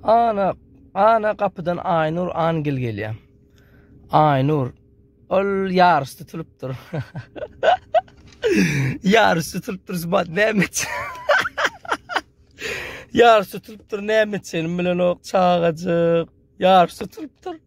Ana, ana gapydan Aýnur Angel gelýär. Aýnur, ol ýaryş tutulypdyr. Ýaryş tutulypdyr, subat näme Ýaryş tutulypdyr, näme üçin bilenok, çagajyk. Ýaryş tutulypdyr.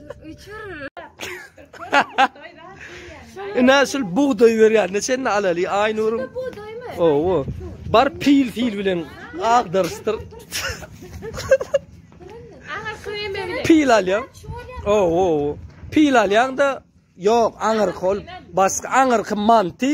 Ina şul bugdaý berýär. Neçeni alaly Aýnuryň? Bugdaýmy? Owo. Bar pil pil bilen agdaryşdyr. Ana kreme bilen. Pil alýaň. Owo. Pil alýaň da ýok aňyrky ol başga aňyrky manty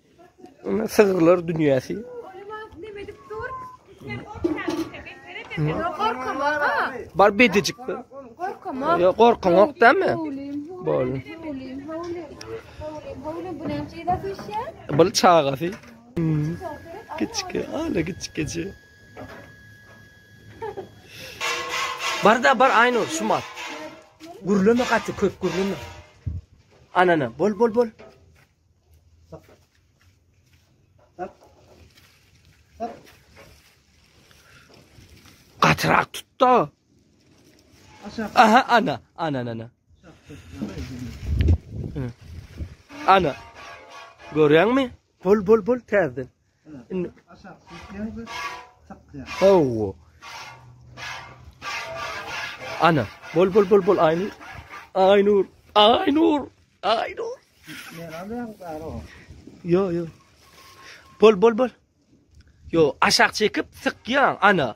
Sygyrlar dünýäsi. Bar bedejik. Ýok, gorkaňok dämi? Bol. Bol çagasy. Kiçki, ala kiçkiji. Bar da bar Aynur, şu mal. Gürleme gaty köp gürleme. Anana, bol bol bol. Katırak tut da. Aha ana. Ana ana ana. Ana. Görüyor musun? Bol bol bol terden. Indi aşak düşýäňiz, çykýar. Hawa. Ana, bol bol bol bol Aynur. Aynur, Aynur, Aynur. Yo yo. Bol bol bol. Yo, aşak çekip sıkyan ana.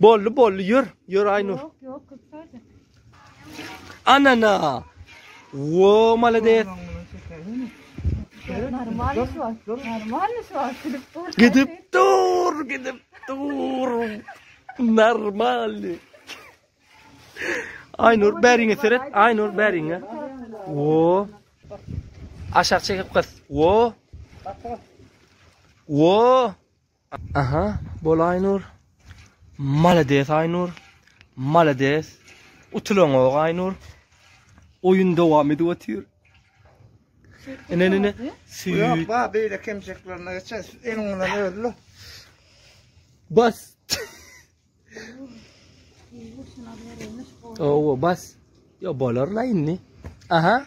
Bolly bolly ýör, ýör Aýnur. Ýok, ýok, köpdäde. Anana. Wo, malades. Normal iş bar. Normal iş bar. Gidip dur. Gidip dur, gidip dur. Normal. Aýnur, bäriňe seret. Aýnur, bäriňe. Wo. Aşak çekip gyz. Wo. Wo. Aha bol Aýnur. Malades Aýnur. Malades. Utulanok Aýnur. Oýun dowam edip otyr. Ene ene süýt. Yok ba beýle kemçeklerine geçer. Eliň bilen özle. Bas. Oo bas. Yo bolar la indi. Aha.